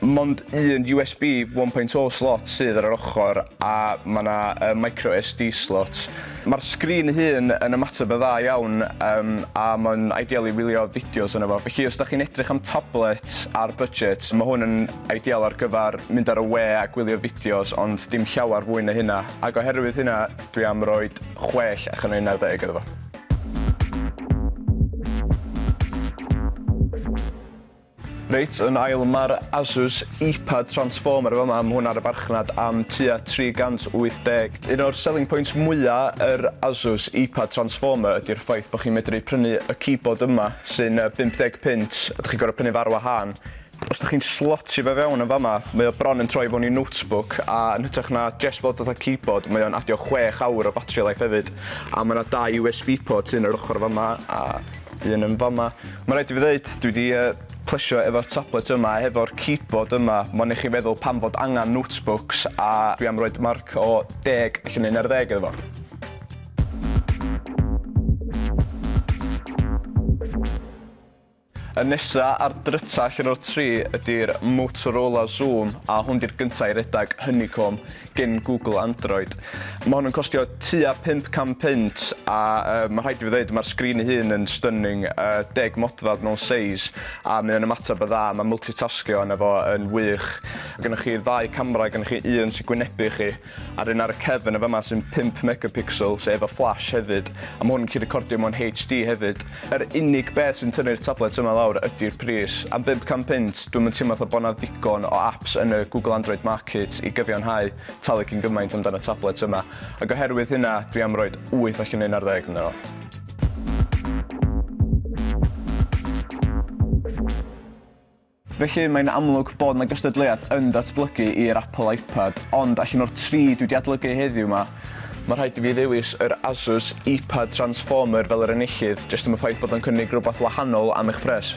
Mond un USB 1.0 slot sydd ar yr ochr a mae yna micro SD slot. Mae'r sgrin ei hun yn ymateb yn dda iawn yym a mae'n ideal i wylio fideos arno fo. Felly os dach chi'n edrych am tablet ar budget, mae hwn yn ideal ar gyfer mynd ar y we a gwylio fideos ond dim llawer fwy na hynna. Ac oherwydd hynna dwi am roi chwech allan o unarddeg iddo fo. Reit, yn ail mae'r Asus Eepad Transformer yn fama, mae hwn ar y farchnad am tua 380. Un o'r selling points mwya' yr Asus Eepad Transformer ydi'r ffaith bod chi'n medru prynu y keyboard yma sy'n 50 punt a dych chi'n gorfod prynu fo ar wahân. Os dych chi'n slotio fe fewn yn fama, mae o bron yn troi fewn i notebook a yn hytrach na jest fod fatha keyboard mae o'n adio chwech awr o battery life hefyd a mae 'na dau USB port un ar yr ochr fama a Dwi yn yn fama. Ma' raid i fi ddeud dwi 'di yy plesio efo'r tablet yma a hefo'r keyboard yma. Mond i chi feddwl pam fod angan notebooks a dwi am roid marc o deg allan o un ar ddeg iddo fo. Y nesa a'r dryta allan o'r tri ydi'r Motorola Xoom a hwn 'di'r gynta i redag Honeycomb. gin Google Android. Mae hwn yn costio tua 500 punt a uh, mae rhaid i fi ddweud mae'r sgrin ei hun yn stunning, uh, deg modfedd mewn seis a mae o'n ymateb y dda, mae multitasgio yna fo yn wych. Gynnwch chi ddau camera, gynnwch chi un sy'n gwynebu chi a'r un ar y cefn y fama sy'n 5 megapixel sef efo flash hefyd a mae hwn yn gallu recordio mewn HD hefyd. Yr unig beth sy'n tynnu'r tablets yma lawr ydi'r pris. Am bump can punt, dwi'm yn teimlo fatha bod 'na ddigon o apps yn y Google Android Market i gyfiawnhau talu cyn gymaint amdan y tablets yma. Ac oherwydd hynna, dwi am roid wyth allan o un ar ddeg ynddo fo. Felly, mae'n amlwg bod 'na gystadleuaeth yn datblygu i'r Apple iPad, ond allan o'r tri dwi 'di adlygu heddiw 'ma, ma' rhaid i fi ddewis yr Asus iPad Transformer fel yr enillydd, jyst am y ffaith bod o'n cynnig rhywbeth wahanol am eich pres.